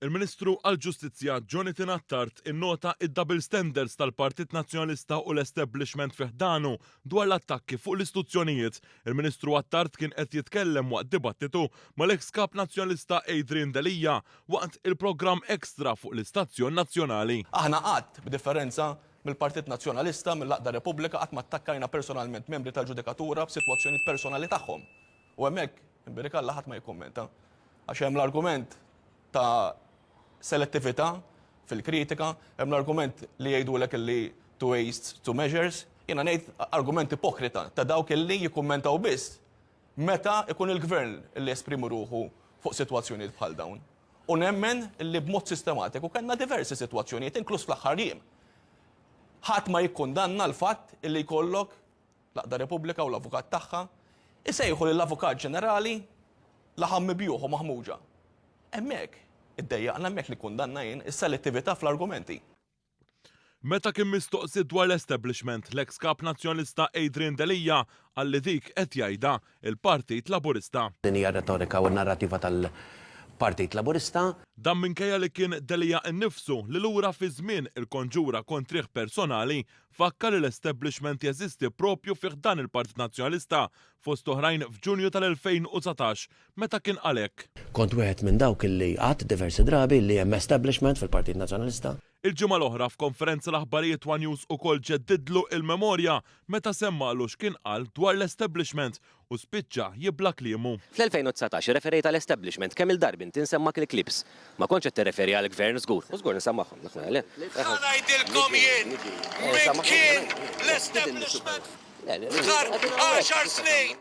Il-Ministru għall-Ġustizzja Jonathan Attard innota id-double standards tal-Partit Nazzjonalista u l-establishment fiħdanu dwar l-attakki fuq l-istituzzjonijiet. Il-Ministru Attard kien qed jitkellem waqt dibattitu mal-eks kap Nazzjonalista Adrian Delia waqt il-programm Extra fuq l-istazzjon nazzjonali. Aħna qatt, b'differenza mill-Partit Nazzjonalista, mill-għaqda Repubblika, qatt ma attakkajna personalment membri tal-ġudikatura b'sitwazzjonijiet personali tagħhom. U hemmhekk, inbierik Alla, ħadd ma jikkummenta. Għax hemm l-argument ta' selettività fil-kritika, hemm l-argument li jgħidulek illi two wastes, two measures. Jiena ngħid argument ipokrita ta' dawk illi jikkummentaw biss meta jkun il-Gvern li jesprimi ruħu fuq sitwazzjonijiet bħal dawn. U nemmen li b'mod sistematiku kellna diversi sitwazzjonijiet, inkluż fl-aħħar jiem. Ħadd ma jikkundanna l-fatt li jkollok l-Għaqda Repubblika u l-Avukat tagħha jsejħu lill-Avukat Ġenerali laħam mibjugħ u maħmuġa. Hemmhekk iddejjaqna, hemmhekk nikkundanna jien is-selettività fl-argumenti. Meta kien mistoqsi dwar l-establishment, l-eks Kap Nazzjonalista Adrian Delia qal li dik qed jgħidha l-Partit Laburista. Din hija r-retorika u n-narrativa tal-Partit Laburista. Dan minkejja li kien Delia innifsu li lura fi żmien il-konġura kontrih personali fakkar li l-establishment jeżisti proprju fi ħdan il-Partit Nazzjonalista fost oħrajn f'Ġunju tal-2019 meta kien qal hekk. Kont wieħed minn dawk li għadt diversi drabi li hemm establishment fil-Partit Nazzjonalista. Il-ġimgħa l-oħra f'konferenza l-aħbarijiet one News ukoll ġeddidlu il-memorja meta semmalu x'kien qal dwar l-establishment u spiċċa jibla' kliemu. Fl-2019 irreferejt għal establishment kemm-il darbi inti nsemmak il-clips. Ma kontx qed tirreferi għall-Gvern żgur. U żgur nsammagħhom. Ħa ngħidilkom jien min kien l-establishment f'Dhar għaxar snin.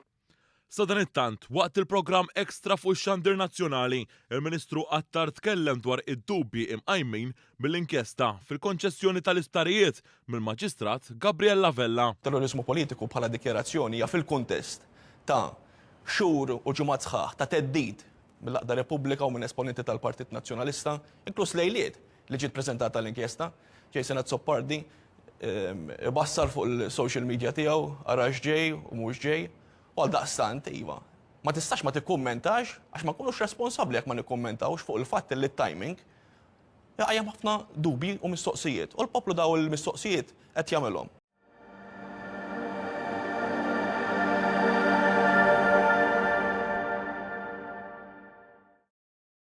Sadanittant, waqt il-programm Extra fuq ix-xandir nazzjonali, il-Ministru Attard tkellem dwar id-dubji imqajmin mill-inkjesta fil-konċessjoni tal-isptarijiet mill-Maġistrat Gabriella Vella. Terroriżmu politiku bħala dikjarazzjoni hija fil-kuntest ta' xhur u ġimgħat sħaħ ta' theddid mill-għaqda Repubblika u minn esponenti tal-Partit Nazzjonalista, inkluż lejliet li ġiet preżentata l-inkjesta, Jason Azzopardi ibassar fuq il-social media tiegħu ara x'ġej u mhux ġej, u għaldaqstant, iva, ma tistax ma tikkummentax għax ma nkunux responsabbli jekk ma nikkummentawx fuq il-fatt li t-timing iqajjem ħafna dubji u mistoqsijiet, u l-poplu dawn il-mistoqsijiet qed jagħmilhom.